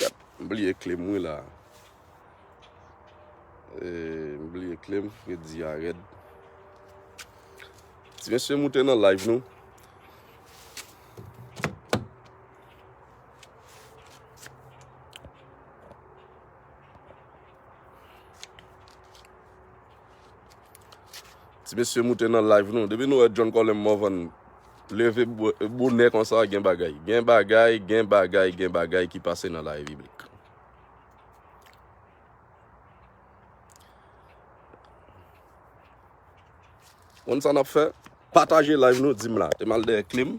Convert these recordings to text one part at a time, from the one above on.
Kat m bliye klem wi la. M bliye klem fredi a red. Ti mesye moute nan live nou. Ti mesye moute nan live nou. Depi nou e John Colem Morvan. Leve bonè konsa gen bagay. Gen bagay, gen bagay, gen bagay ki pase nan la Repiblik. Konn sa nap fè? Pataje live nou dim la. Te mal dèyè klim.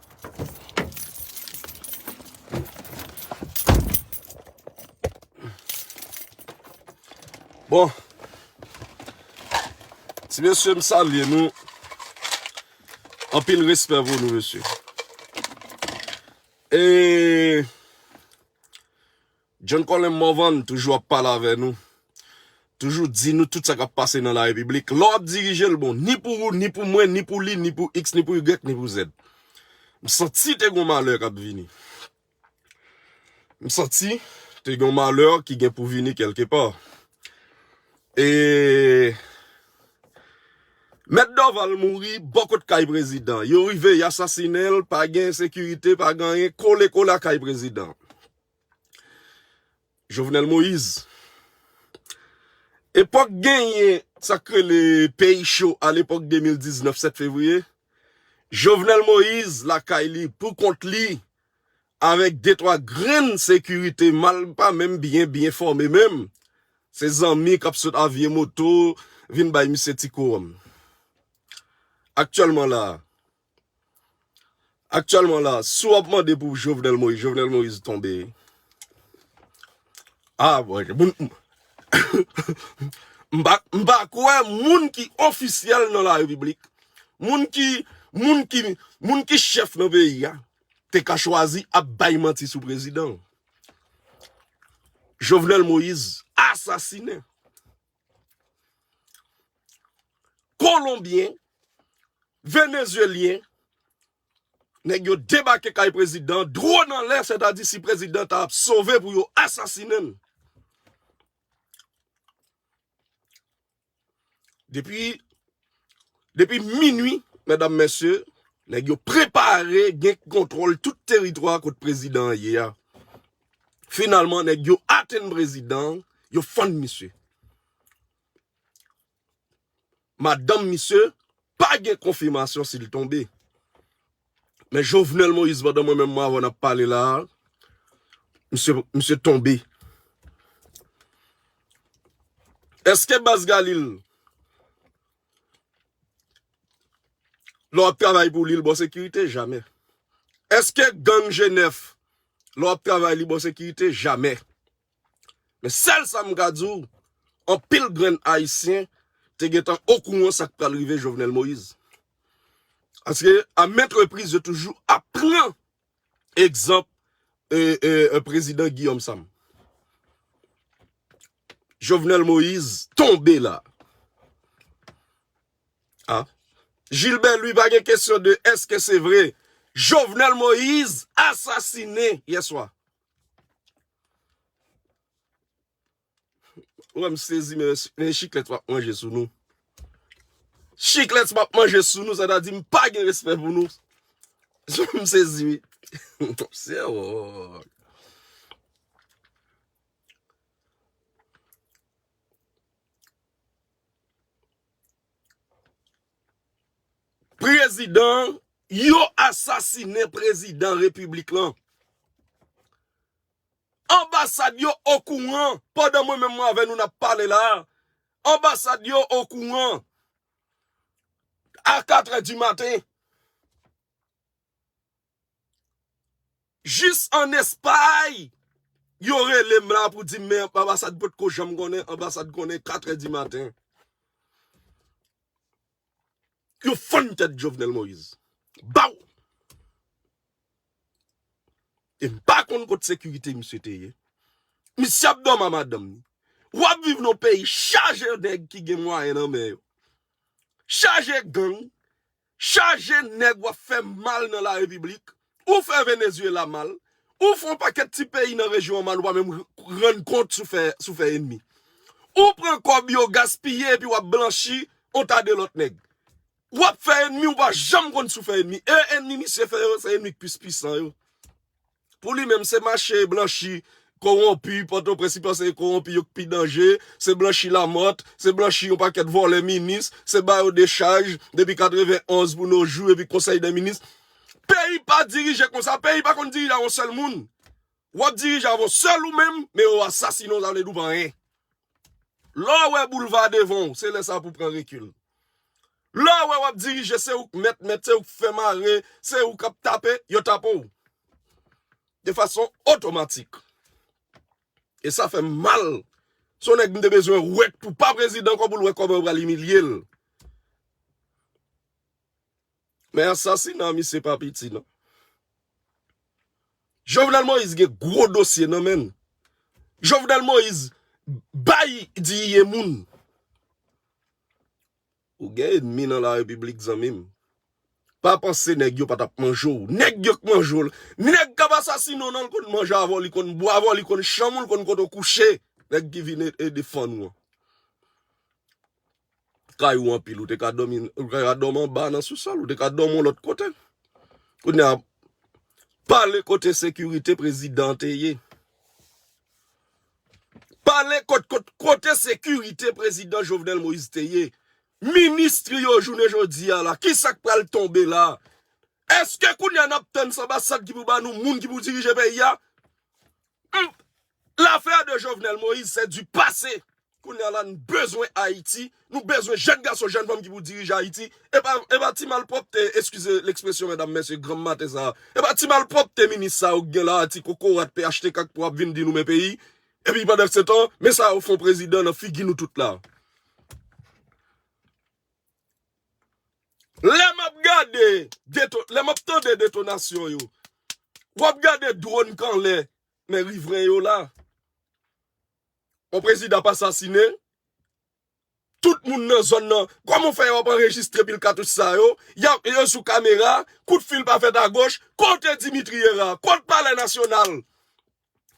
Bon, ti mesye m salye nou, anpil respè pou nou mesye. E, John Colin Morvan toujou ap pale avè nou, toujou di nou tout sa kap pase nan la repiblik. Lè w ap dirije l bon, ni pou ou, ni pou mwen, ni pou li, ni pou X, ni pou Y, ni pou Z. M santi te gon malè kap vini. M santi te gon malè ki gen pou vini kèlke pa. E Mèt Dorval mouri bò kot kay prezidan. Yo rive y asasinen l, pa gen ensekirite, pa gen anyen, kole kole a kay prezidan. Jovenel Moise. Epok genyen sak rele peyi cho a lepok 2019 7 fevriye Jovenel Moise lakay li pou kont li avek de twa grenn sekirite mal pa menm byen byen fome menm se zanmi kap sot a vye moto vin bay misye ti kouranm. Aktyelman la a. Actuellement la si wap mande pou Jovenel Moïse Jovenel Moïse tonbe ah bon m pa kwè moun ki ofisyèl nan la repiblik moun ki moun ki moun ki chèf nan peyi a te ka chwazi ap bay manti sou prezidan Jovenel Moïse asasine Kolonbyen, Venezyelyen, nèg yo debake kay prezidan, dron an lè, sètadi si prezidan ta ap sove pou yo asasinen l. Depi. Depi minui, medam mesye, nèg yo prepare gen kontwòl tout teritwa kot prezidan an ye a. Finalman, nèg yo atenn prezidan an, yo fann misye. Madanm misye pa gen konfimasyon si l tonbe. Men Jovenel Moïse pandan mwen menm Mavon ap pale la a, misye misye tonbe. Eske Baz Galil lè w ap travay pou li l bò sekirite? Jamè. Eske gang G9 lè w ap travay li bò sekirite? Jamè. Men sèl sa m ka di w, anpil grenn Ayisyen te gentan okouran sa k pral rive Jovenel Moïse. Paske a ment repriz yo toujou ap pran egzanp Prezidan Guillaume Sam. Jovenel Moïse tonbe la a. Gilbert Louis pa gen kesyon de eske se vre Jovenel Moïse asasinen yè swa. Ou wèm sezi men yon chiklet wap manje sou nou. Chiklet wap manje sou nou sa ta di m pa gen respè pou nou. Sou m sezi wi. Sè wò. Prezidan an, yo asasinen prezidan repiblik lan. Anbasad yo okouran, pandan mwen menm mwen avè nou nap pale la, anbasad yo okouran, a 4 è di maten. Jis an Espay yo rele m la pou di m men anbasad potko janm konnen anbasad konnen katrè di maten. Yo fann tèt Jovenel Moïse. Baw! E m pa konn kot sekirite misye te ye. Misye ap dòmi a madanm ni. W ap viv nan yon peyi chaje nèg ki gen mwayen nan men yo. Chaje gang. Chaje nèg wap fè mal nan larepiblik, ou fè Venezuela mal, ou fè yon pakèt ti peyi nan rejyon an mal ou pa menm rann kont si w fè enmi. Ou pran kòb yo gaspiye epi wap blanchi yon ta de lòt nèg. Wap fè enmi ou pa janm konn si w fè enmi e enmi misye fè yo se enmi k plis pwisan yo. Pou li menm, se mache blanchi kowonpi Pòtoprens li panse e kowonpi yo k pi danje, se blanchi Lamòt, se blanchi yon pakèt vòlè minis, se ba yo dechaj depi 91 pou no jou epi konsèy dè minis. Peyi pa dirije konsa, peyi pa konn dirije avon sèl moun. Wap dirije avon sèl ou menm, men yo asasine w sa vle di w pa anyen. Lè w wè boulva devan w, se lè sa pou w pran rekil. Lè w wè w ap dirije, se ou k mèt mèt, se ou k fè mare, se ou k ap tape, yo tape w. De fason otomatik. E sa fè m mal. Se yon nèg m te bezwen wè k pou pa prezidan, kòm pou l wè kòman yo pral imilye l. Men asasina misye pa piti nan. Jovenel Moïse gen gwo dosye nan menn. Jovenel Moïse bay diyiye moun. Ou gen enmi nan la repiblik zanmim. Pa panse neg yo patap manje w. Neg yo k manje w. Neg kap asasine w nan l konn manje avè w, li konn bwa avè w, li konn chanm ou, li konn kote w kouche. Neg ki vin e defann ou an. kay ou anpil ou te ka dòmi anba nan sousòl ou te ka dòmi yon lòt kote kounya pale kote sekirite prezidan te ye pale kote sekirite prezidan Jovenel Moïse te ye ministri yo jounen jodi a la kisa k pral tonbe la eske kounya n ap tann sanbasad ki pou ba nou moun ki pou dirije peyi a L'affaire de Jovenel Moïse c'est du passé Kounya la n bezwen Ayiti Nou bezwen jèn gason jèn fanm ki pou dirije Ayiti Epa epa ti malpwòpte eskize l'expression medam mesye granm maten sa a Epa ti malpwòpte minis sa yo k gen la a ti kokorat phtk k pou ap vin di nou men peyi Epi pandansetan men sa yo fon prezidan nan figi nou tout la a Lè map gade deto lè map tande detonasyon yo Wap gade drone k anlè Men rivren yo la. On prezidan ap asasine. Tout moun nan zòn nan. Koman w fè yo ap anrejistre pil katouch sa yo. Yo sou kamera. Kout fil pa fèt agoch. Kote Dimitri Hera? Kot palè nasyonal?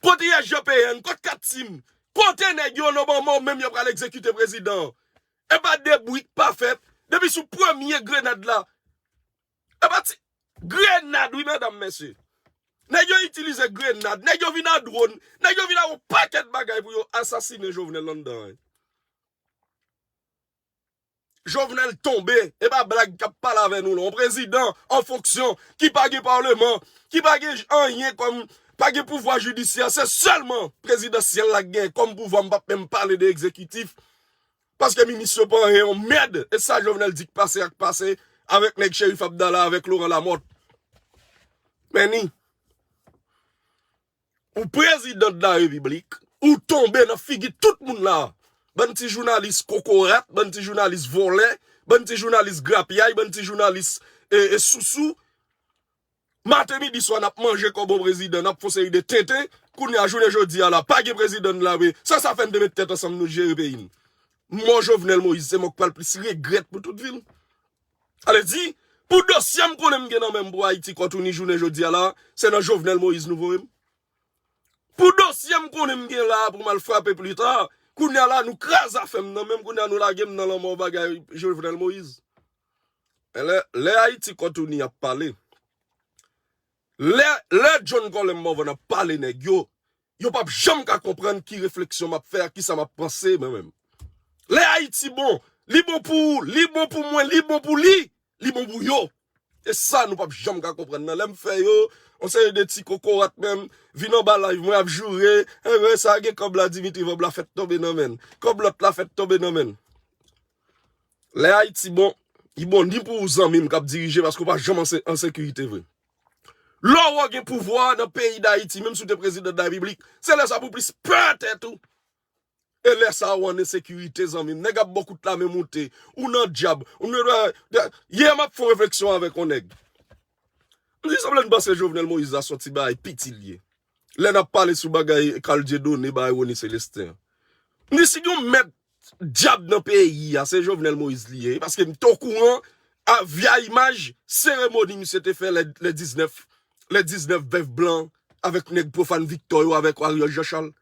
Kot ISGPN? Kot kat sim? Kote nèg yo nan moman w menm yo pral egzekite prezidan an? Epa de bri k pa fèt. Depi sou premye grenad la. Epa ti grenad wi medam mesye. Nèg yo itilize grenad, nèg yo vin an dron, nèg yo vin ak yon pakèt bagay pou yo asasine Jovenel anndan an. Jovenel tonbe, e pa blag kap pale avè nou la. Yon prezidan an fonksyon ki pa gen parleman, ki pa gen anyen kòm, pa gen pouvwa jidisyè, se sèlman prezidansyèl la gen kòm pouvwa, m pap menm pale de ekzekitif. Paske minisyon pa anyen yon mèd e sa jovenel di k pase ak pase avèk nèg cherif abdala avèk loran lamòt men ni ou prezidan la repiblik ou tonbe nan figi tout moun la bann ti jounalis kokorat bann ti jounalis vòlè bann ti jounalis grapyay bann ti jounalis e sousou. Maten midi swa nap manje kòb on prezidan nap fon seri de tenten kounya jounen jodia la pa gen prezidan n la vre sa sa fè n te met tèt ansanm nou jere peyi n mò jovenel moïse se mò k pral plis regrèt pou tout vi l sa vle di pou dosye m konnen m gen nan men m pou ayiti kòtouni jounen jodia la se nan jovenel moïse nou voye m pou dosye m konnen m gen la pou m al frape plita kounya la nou kraze afè m nan men m kounya nou lage m nan lanmò bagay jovenel moïse. Lè Ayiti Kòtoni ap pale, lè John Colem Morvan ap pale nèg yo, yo p ap janm ka konprann ki refleksyon m ap fè a, ki sa m ap panse mwen menm. Lè Ayiti bon, li bon pou ou, li bon pou mwen, li bon pou li, li bon pou yo. E sa nou p ap janm ka konprann nan. Lè m fè yo, yon seri de ti kokorat menm, vin anba live mwen ap joure, enben sa gen kòb la Dimitri Vorbe la fèt tonbe nan men l, kòb lòt la fèt tonbe nan men l. Lè Ayiti bon, li bon ni pou ou zanmi m k ap dirije paske ou pa janm an sekirite vre. Lè ou gen pouvwa a nan peyi Dayiti, menm si ou te prezidan darepiblik, se lè sa a pou plis pè tèt ou. E lè sa a ou an ensekirite zanmi m. Nèg ap ba w kout lame moute. Ou nan dyab. Yè m ap fè yon refleksyon avèk yon nèg. M di sanble n panse Jovenel Moïse la son ti bagay piti l ye. lè n ap pale sou bagay Carl Dieudonné bay Rony Celestin an. M di si gen yon mèt dyab nan peyi a se Jovenel Moïse li ye paske m te okouran a via imaj seremoni misye te fè lè 19 lè 19 bèf blan avèk nèg Prophane Victor yo avèk Ariel Jean Charles.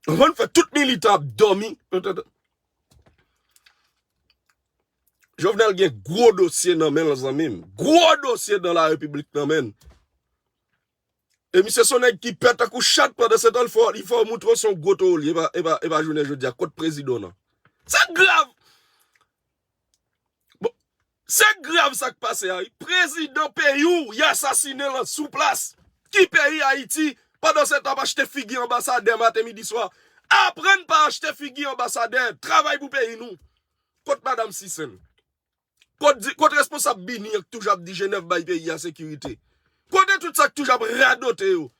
Ou konprann fè tout militan ap dòmi entèt. Jovenel gen gwo dosye nan men l zanmi m. Gwo dosye dan la repiblik nan men l. E misye son nèg ki pè tankou chat pandansetan li fè li fè w montre w se yon gwo toro li ye epa epa jounen jodi a kot prezidan w nan. Sa grav! Bon se grav sa k pase a wi prezidan peyi w y asasinen l sou plas ki peyi Ayiti pandansetan w ap achte figi anbasadè maten midi swa aprann pa achte figi anbasadè travay pou peyi nou kot madam Sisen. Kot di, kot responsab bini an ki toujou ap di jenèv bay peyi a sekirite? Kote tout sa ki toujou ap radote yo?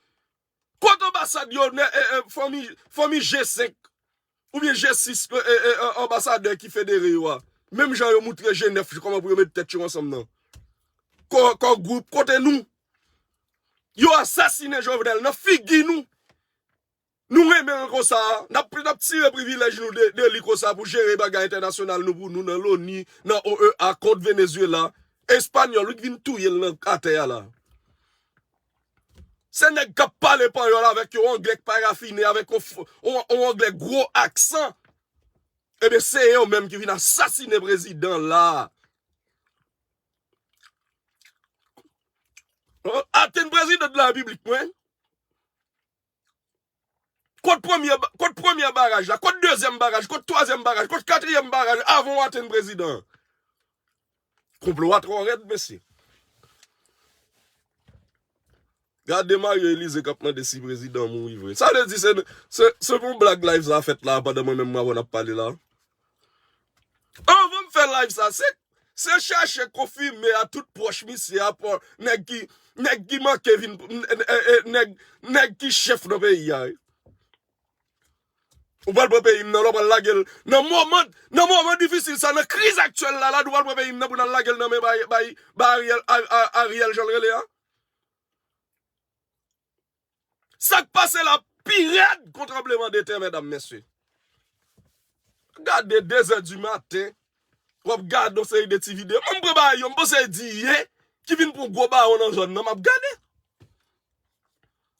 Kot anbasad yo nè e e fanmi fanmi G5 oubyen G6 e e anbasadè ki federe yo a? Menm jan yo moutre jenèf ki kòman pou yo met tèt yo ansanm nan. Kò kò gwoup kote nou? Yo asasine Jovenel nan figi nou. Nou renmen l konsa, n ap tire privilèj nou de li konsa pou jere bagay entènasyonal nou pou nou nan loni, nan OEA, kont Venezuela. Espanyòl wi k vin touye l nan atè a la. Se nèg k ap pale panyòl avèk yon anglè k pa rafine, avèk yon anglè gwo aksan. Ebyen se yo menm ki vin asasine prezidan la. Atenn prezidan de la repiblik mwen. Kot premye kot premyè baraj la, kot dezyèm baraj, kot twazyèm baraj, kot katriyèm baraj avan w atenn prezidan an? Konplo a twò rèd mesye. Gade Mario Elize k ap mande si prezidan an mouri vre. Sa vle di se se pou yon blag live sa fèt la a pandan mwen menm m avè w n ap pale la a? Anvan m fè live sa se se chèche konfime a tout pwòch misye a pou nèg ki nèg ki manke vin nèg nèg ki chèf nan peyi a. Ou pral pran peyi m nan la ou pral lage l nan moman nan moman difisil sa nan kriz aktyèl la la nou pral pran peyi m nan pou nan lage l nan men bay bay Ariel Ariel jan l rele a. Sak pase la pi red kon tranbleman de tè medam mesye. Gade 2 zè di maten wap gade yon seri de ti video. Mwen pran bagay yo mpanse e di ye ki vin pran gwo baron nan zòn nan map gade.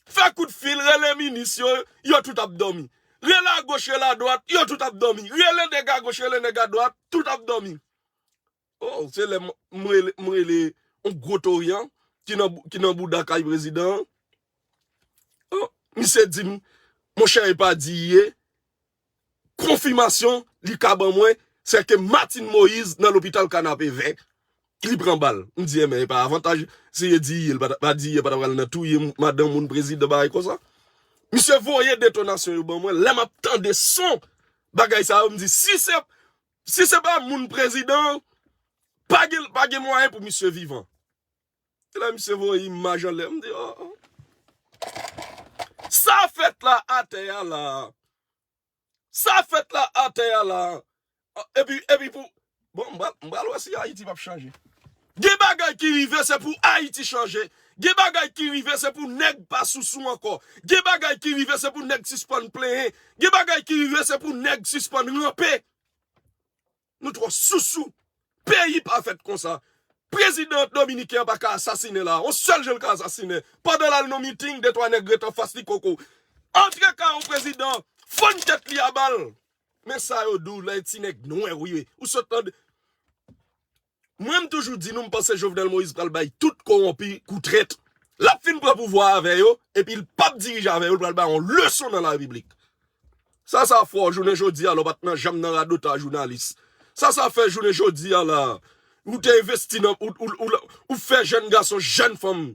Fè kout fil rele minis yo, yo tout ap domi. Rele a goch rele a dwat, yo tout ap domi. Rele nèg a goch rele nèg a dwat, tout ap domi. Oh se lè m rele yon gwo torian ki nan bouda kay prezidan an. Oh misye di m monchè e pa di ye. Konfimasyon li ka ban mwen se ke Martine Moïse nan lopital kanapevè li pran bal. M di enben e pa avantaj si e di ye l pa di ye pa ta pral nan touye madan moun prezidan bagay konsa. Misye voye detonasyon yo ban mwen lè m ap tande son bagay sa yo m di si se Si se pa moun prezidan pa gen pa gen mwayen pou misye vivan. Se la misye voye imaj anlè m di oh oh. Sa fèt la atè a la. Sa fèt la atè a la. Epi epi pou bon m pral wè si Ayiti pap chanje. Gen bagay ki rive se pou Ayiti chanje, gen bagay ki rive se pou nèg pa sousou ankò, gen bagay ki rive se pou nèg sispann plenyen, gen bagay ki rive se pou nèg sispann ranpe. Nou twò sousou. Peyi pa fèt konsa. Prezidan dominiken an pa ka asasinen la a. Yon sèl je l ka asasinen. Pandan l al nan meeting, de twa nèg ret anfas li koko. Antre ka yon prezidan, fann tèt li a bal. Men sa yo di w lè e ti nèg nwè ou ye. Ou sot tande. Mwen m toujou di nou m panse Jovenel Moïse pral bay tout kowonpi kou trèt lap fin pran pouvwa a avè yo epi l pap dirije avè yo l pral bay yon leson nan larepiblik sa sa fè w jounen jodi a la w pat nan janm nan radotaj jounalis sa sa fè jounen jodi a la a ou te envesti nan ou fè jèn gason jèn fanm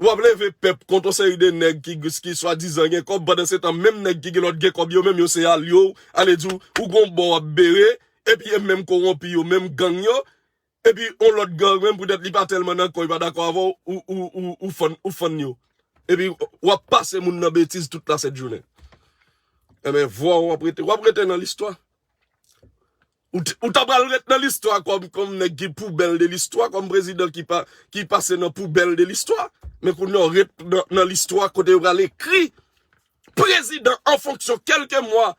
Wap leve pèp kont yon seri de nèg ki swadizan gen kòb pandan se tan menm nèg ki gen lòt gen kòb yo menm yo se alye w, ale di w ou gon bò wap bere epi e menm kowonpi yo menm gang yo epi yon lòt gang menm poutèt li pa tèlman nan kò li pa dakò avè w ou fann yo epi wap pase moun nan betiz tout la sèt jounen. Enben vwa w wap rete wap rete nan listwa Ou ta pral ret nan listwa kòm nèg ki poubèl de listwa, kòm prezidan ki pase nan poubèl de listwa. Men kounye a ou ret nan listwa kote yo pral ekri prezidan an fonksyon kèlke mwa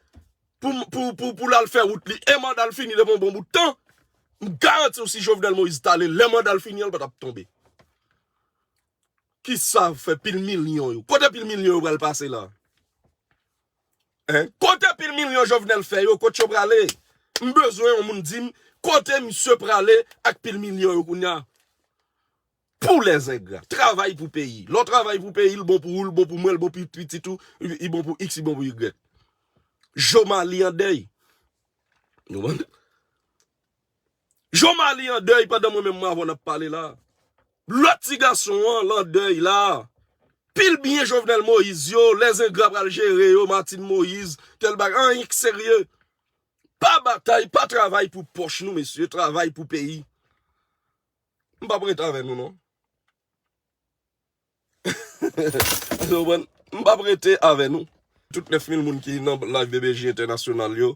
pou l al fè wout li e manda l fini depi yon bon bout tan. M garanti w si Jovenel Moïse t ale lè manda l fini an l pa t ap tonbe. Kisa fè pil milyon yo? Kote pil milyon yo pral pase la? Kote pil milyon jovenel fè yo kot yo prale m bezwen yon moun dim kote misye prale ak pil milyon yo kounya pou les engra travay pou peyi lè w travay pou peyi l bon pou ou l bon pou mwen l bon pou pitit ou li bon pou x li bon pou y jomalie andèy nou wè Jean Malie an dèy pandan mwen menm m avè w n ap pale la. Lòt ti gason an l an dèy la. Pil byen Jovenel Moïse yo, lèzengra pral jere yo, Martine Moïse, tèl bagay, anyen k serye. Pa batay, pa travay pou pòch nou mesye, travay pou peyi. M p ap rete avè nou non. Eskew konprann? M pap rete avè nou. Tout 9000 moun ki nan live BBJ entènasyonal yo,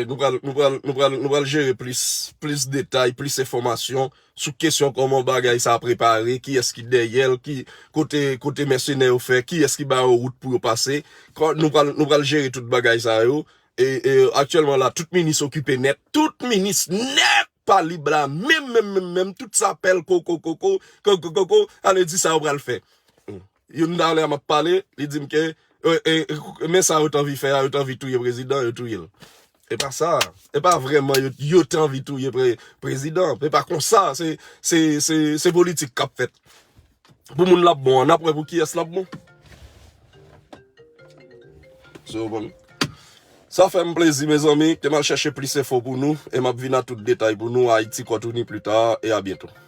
nou pral, nou pral, nou pral, nou pral jere plis, plis detay, plis enfòmasyon sou kesyon kòman bagay sa prepare, kiyès ki dèyèl, ki kote, kote mèsenè yo fè, kiyès ki ba yo wout pou yo pase. Kon nou pral, nou pral jere tout bagay sa yo. E, e aktyèlman la tout minis okipe nèt, tout minis nèt! Talib la menm menm menm menm tout sa pèl koko koko koko koko ale di sa yo pral fè youn ta lè a map pale li dim ke men sa yo t anvi fè a yo t anvi touye prezidan yo touye l e pa sa e pa vrèman yo t anvi touye prezidan e pa konsa se se se politik kap fèt. Pou moun lap bon an nap wè pou kiyès lap bon. Sa fèm plezi mezanmi kem al chèche plis enfo pou nou e map vin a tout detay pou nou a Haiti Kòtouni pli ta e a byento.